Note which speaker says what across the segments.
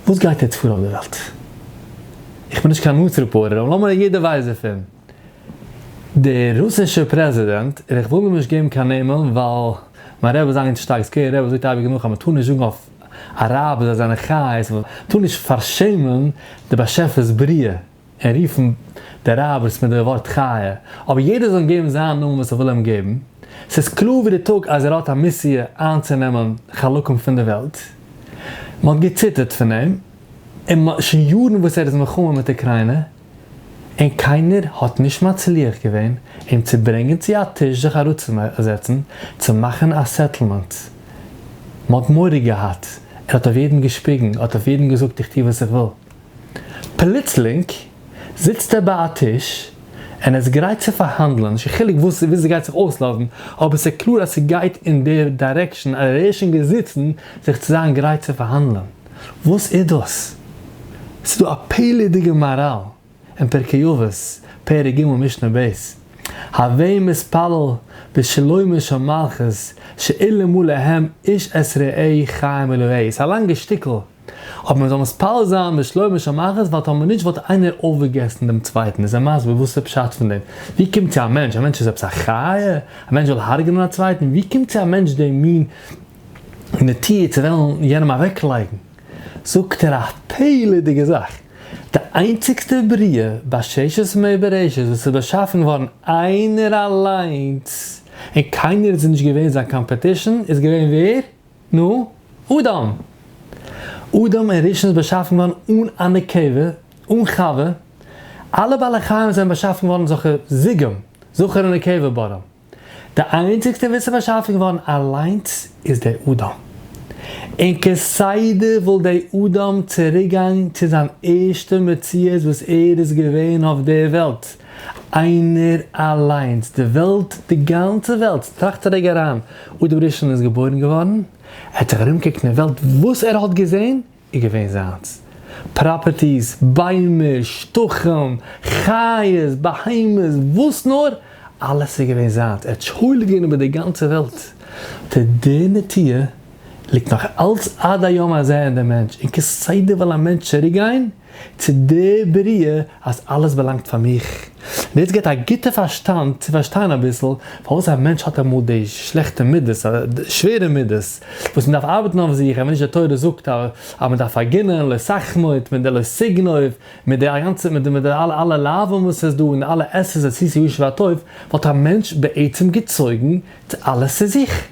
Speaker 1: וואס גייט יעצט פאר אויף די וועלט? איך בין נישט קיין נוץ רעפארטער אבער לאמיר יעדער ווייסט דערפון. דער רוסישער פרעזידענט, און איך וויל אים נישט געבן קיין נעמען ווייל מיין רבי איז אגענט שטארק סקערי רבי זאגט אייביג נאך אז מען טאר נישט זאגן אויף אראבער זיי זענען חיות און מען טאר נישט פארשעמען די באשעפערס בריאה. און רופן די רביס מיט די ווארט חיה, אבער יעדער זאל אים געבן זיין נאמען וואס ער וויל אים געבן, ס'איז קלאר ווי די טאג אז ער האט א מיסיע איינצונעמען חלקים פון די וועלט. מ'האט געציטערט פון אים, און מ'האט שוין יארן וואס ער איז מלחמה מיט אוקריינע, און קיינער האט נישט מצליח געווען אים צו ברענגען צו א טיש זיך אראפצוזעצן צו מאכן א סעטלמענט. מ'האט מורא געהאט, ער האט אויף יעדן געשפיגן, האט אויף יעדן געזאגט איך טו וואס איך וויל. פלוצלינג זיצט ער ביי א טיש און איז גרייט צו פארהאנדלען, נישט קיין חילוק וואס ווי ס'גייט זיך אויסלאזן, אבער ס'איז קלאר אז ס'גייט אין די דיירעקשאן אז ער איז שוין געזיצן זיך צו זיין גרייט צו פארהאנדלען. וואס איז דאס? ס'איז דא א פעלערדיגע מאראל אין פרקי אבות, פרק ג' משנה ב', הווי מתפלל בשלומה של מלכות שאילמו להם איש את רעהו חיים אלוהי, ס'איז א לאנגע שטיקל, אבער מען זאל מתפלל זיין בשלומה של מלכות ווייל טאמער נישט וואלט איינער אויפגעגעסן דעם צווייטן, איז ער מסביר וואס איז פשט פון דעם, ווי קומט צו א מענטש, א מענטש איז עפעס א חיה? א מענטש זאל הרג'נען א צווייטן? ווי קומט צו א מענטש די מין נטייה צו וועלן יענעם אוועקלייגן? זאגט ער א פלא'דיגע זאך, די איינציגסטע בריאה בששת ימי בראשית וואס איז באשאפן געווארן איינער אליינס און קיינער איז אים נישט געווען זיין קאמפעטישן איז געווען ווער? נו, אדם! אדם און ראשון איז באשאפן געווארן אן א נקבה, אן חווה. אלע בעלי חיים זענען באשאפן געווארן זכר זיגום, זכר און נקבה ברא. די איינציגסטער וואס איז באשאפן געווארן אליינס איז דער אדם. און כסדר וואלט דער אדם צוריקגעגאנגען צו זיין ערשטע מציאות וואס ער איז געווען אויף דער וועלט. איינער אליינס, די וועלט, די גאנצע וועלט, טראכט א רגע אריין, אויב דער ראשון איז געבוירן געווארן, ער האט זיך ארומגעקוקט אין דער וועלט, וואס ער האט געזען איז געווען זיינס, פראפערטיס, ביימער, שטחים, חיות, בהמות, וואס נאר, אלעס איז געווען זיינס, ער האט שולט געווען איבער דער גאנצער וועלט. די דער נטיה ליגט נאך אלץ עד היום הזה אין דעם מענטש, און כסדר וועל א מענטש צוריק גיין צו די בריאה אז אלעס באלאנגט פאר מיך, און דאס גיבט א גוטע פארשטאנד צו פארשטיין אביסל פארוואס א מענטש האט אמאל די שלעכטע מידות, די שווערע מידות, וואס מען דארף ארבעטן אויף זיך, אויב נישט די תורה זאגט אז מען דארף פארגינען, לא סכמות, מיט די לא סגנוב, מיט די אגאנצע, מיט די אלע לאווים וואס איז דא, און אלע עשרת עשיתי יושר והטוב, וואלט א מענטש בעצם געצויגן אלעס צו זיך.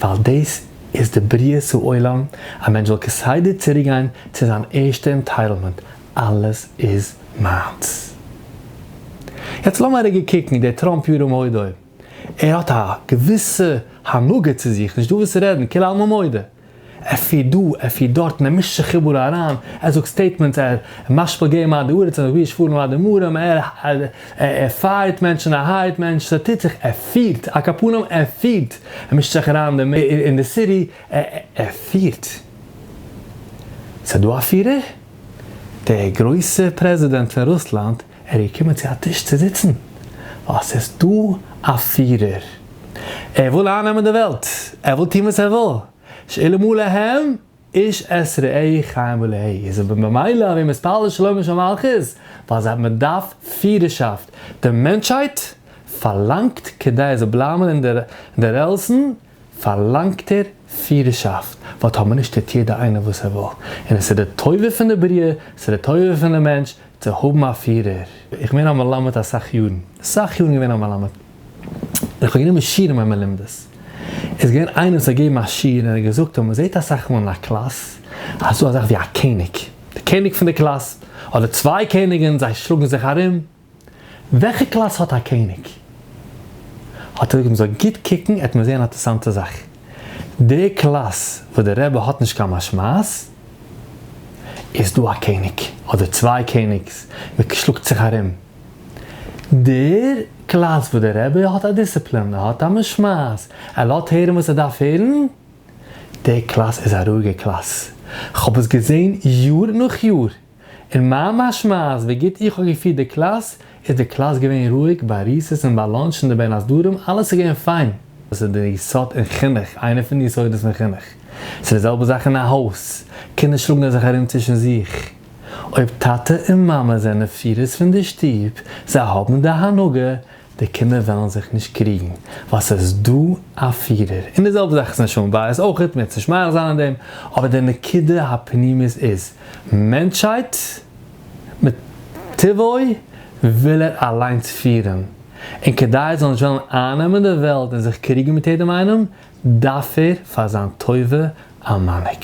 Speaker 1: ווייל דאס איז די בריאת העולם, א מענטש זאל כסדר צוריקגיין צו זיין ערשטע ענטייטלמענט, אלעס איז מיינס. יעצט לאמיר ארוגע קוקן דער טראמפ ירום הודו, ער האט א געוויסע הנהגה צו זיך, נישטא וואס רעדן, כולעלמא מודה, אפי' דא אפי' דארט מען מישט זיך איבעראל אריין, ער זאגט סטעיטמענטס, ער משפיל געי מעמד הארץ, ער זאגט ווי איז פארן אדם ארם, ער ער פייערט מענטשן ער הייערט מענטשן, ס'טוט זיך, ער פירט, א קאפאנעם ער פירט, ער מישט זיך אריין אין די סיטי, ער פירט. ס'דא א פירער? דער גרויסער פרעזידענט פון רוסלאנד ער איז געקומען צו א טיש צו זיצן, ווייל ס'איז דא א פירער. ער וויל אייננעמען די וועלט, ער וויל טון וואס ער וויל. שאלה מה להם איש את רעהו חיים ולה'. איז אבער ממילא אז מיר מתפלל שלומה של מלכות, ווייל זיי האבן מ'דארף פירערשאפט. די מענטשהייט פארלאנגט כדי ער זאל בלייבן אין די רעלסן, פארלאנגט ער פירערשאפט, ווייל טאמער נישט טוט יעדער איינער וואס ער וויל, און עס איז די טובה פון די בריאה, עס איז די טובה פון די מענטש צו האבן א פירער. איך בין געווען א מלמד אסאך יארן, אסאך יארן געווען א מלמד, און איך האב גענומען שיעור אין מיין מלומדות, איז געווען איינער וואס האט געגעבן א שיעור און ער האט געזאגט אז מען זעט אסאך מאל אין א קלאס אז ס'דא אזאך ווי א קעניג, די קעניג פון די קלאס, אדער צוויי קעניגען זיי שלאגן זיך ארום, וועלכע קלאס האט א קעניג? האט ער געזאגט מען זאל גוט קוקן עט מען זעהן א טערסאנטע זאך, די קלאס וואס די רבי האט נישט קיין משמעות איז דא א קעניג אדער צוויי קעניגס מען שלאגט זיך ארום, די קלאס וואס די רבי האט א דיסציפלין ער האט א משמעות ער לאזט הערן וואס ער דארף הערן, די קלאס איז א רואיגע קלאס, כ'האב עס געזעהן יאר נאך יאר. און מה משמע אז ווי גוט איך האב געפירט די קלאס, איז די קלאס געווען רואיג, ביי ריסעס און ביי לאנטש און די בין הסדרים, אלעס איז געווען פיין. דאס איז דער יסוד אין חינוך, איינער פון די יסודות פון חינוך. ס'איז די זעלבע זאך אין א הויז, קינדער שלאגן זיך ארום צווישן זיך. אויב טאטע און מאמע זענען פירערס פון די שטוב, זיי האבן די הנהגה, די קינדער וועלן זיך נישט קריגן ווייל ס'איז איז דא א פירער, און די זעלבע זאך איז אין שלום בית אויכעט, מ'עט נישט מאריך זיין אין דעם, אבער די נקודה הפנימית איז, מענטשהייט מטבעו וויל ער אליינס פירן, און כדי ער זאל נישט וועלן אייננעמען די וועלט און זיך קריגן מיט יעדעם איינעם, דארף ער פאר זיין טובה א מנהיג.